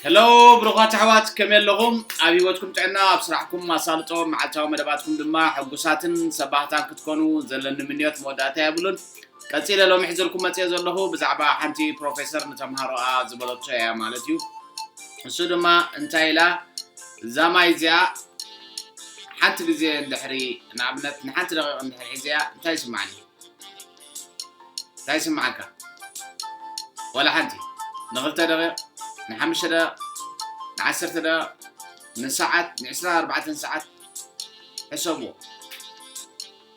ሄሎ ብሩኻት ኣሕዋት ከመይ ኣለኹም ኣብ ሂወትኩም ጥዕና ኣብ ስራሕኩም ኣሳልጦ መዓልታዊ መደባትኩም ድማ ሕጉሳትን ሰባህታን ክትኮኑ ዘለኒ ምንዮት መወዳእታ የብሉን ቀፂለ ሎሚ ሕዘልኩም መፅኦ ዘለኹ ብዛዕባ ሓንቲ ፕሮፌሰር ንተምሃሮኣ ዝበለቶ እያ ማለት እዩ ንሱ ድማ እንታይ ኢላ እዛ ማይ እዚኣ ሓንቲ ግዜ እንድሕሪ ንኣብነት ንሓንቲ ደቂቕ እንድሕሪ ሒዘያ እንታይ ይስማዕኒ እንታይ ይስምዓካ ዋላ ሓንቲ ንክልተ ደቂቕ ንሓምሽተ ደቂቕ ንዓሰርተ ደቂቕ ንሰዓት ንዕስራን ኣርባዕተን ሰዓት ሕሰብዎ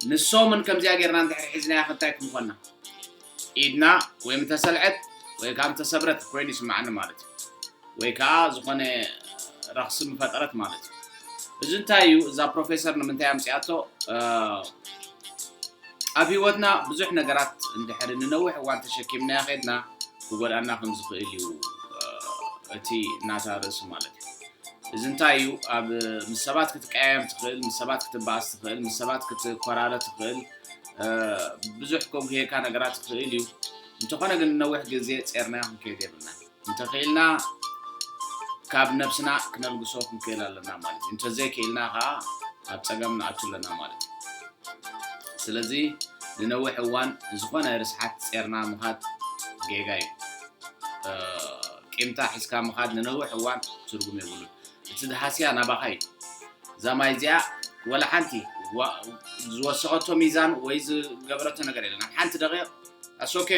ንሶምን ከምዚኣ ጌርና እንድሕር ሒዝናያ ክንታይ ክንኮና ኢድና ወይ ምተሰልዐት ወይ ካብ ተሰብረት ኮይኑ ይስምዓኒ ማለት እዩ ወይ ከኣ ዝኾነ ረኽሲ ምፈጠረት ማለት እዩ። እዚ እንታይ እዩ እዛ ፕሮፌሰር ንምንታይ ኣምጺኣቶ ኣብ ህይወትና ብዙሕ ነገራት እንድሕሪ ንነዊሕ እዋን ተሸኪምናዮ ኼድና ክጎድኣና ከም ዝኽእል እዩ እቲ ናታ ርእሲ ማለት እዩ። እዚ እንታይ እዩ ኣብ ምስ ሰባት ክትቀያየም ትኽእል ምስ ሰባት ክትበኣስ ትኽእል ምስ ሰባት ክትኮራረ ትኽእል ብዙሕ ከጉህየካ ነገራት ይኽእል እዩ እንተኾነ ግን ነዊሕ ግዜ ጼርናዮ ክንከይድ የብልና እንተኽኢልና ካብ ነብስና ክነልግሶ ክንክእል ኣለና ማለት እዩ እንተዘይክኢልና ከዓ ኣብ ፀገም ንኣቱ ኣለና ማለት እዩ ስለዚ ንነዊሕ እዋን ዝኾነ ርስሓት ፀርና ምኻድ ጌጋ እዩ ቂምታ ሒዝካ ምኻድ ንነዊሕ እዋን ትርጉም የብሉን እቲ ድሃስያ ናባኻ እዩ እዛ ማይ እዚኣ ወላ ሓንቲ ዝወሰኸቶ ሚዛን ወይ ዝገበረቶ ነገር የለና ሓንቲ ደቂቕ ኣስ ኦኬ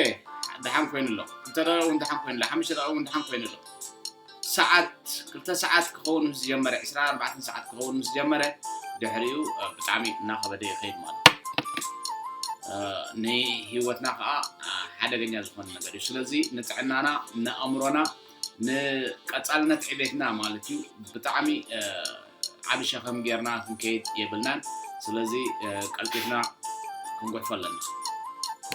ደሓን ኮይኑ ኣሎ ክልተ ደቂቕ እውን ደሓን ኮይኑ ኣሎ ሓሙሽተ ደቂቕ እውን ደሓን ኮይኑ ኣሎ ሰዓት ክልተ ሰዓት ክኸውን ምስ ዝጀመረ 24 ሰዓት ክኸውን ምስ ጀመረ ድሕሪኡ ብጣዕሚ እናኸበደ ይኸይድ ማለት ንህይወትና ከዓ ሓደገኛ ዝኾነ ነገር እዩ ስለዚ ንጥዕናና ንኣእምሮና ንቀፃልነት ዕቤትና ማለት እዩ ብጣዕሚ ዓብ ሸኸም ጌርና ክንከይድ የብልናን ስለዚ ቀልጢፍና ክንጉሕፎ ኣለና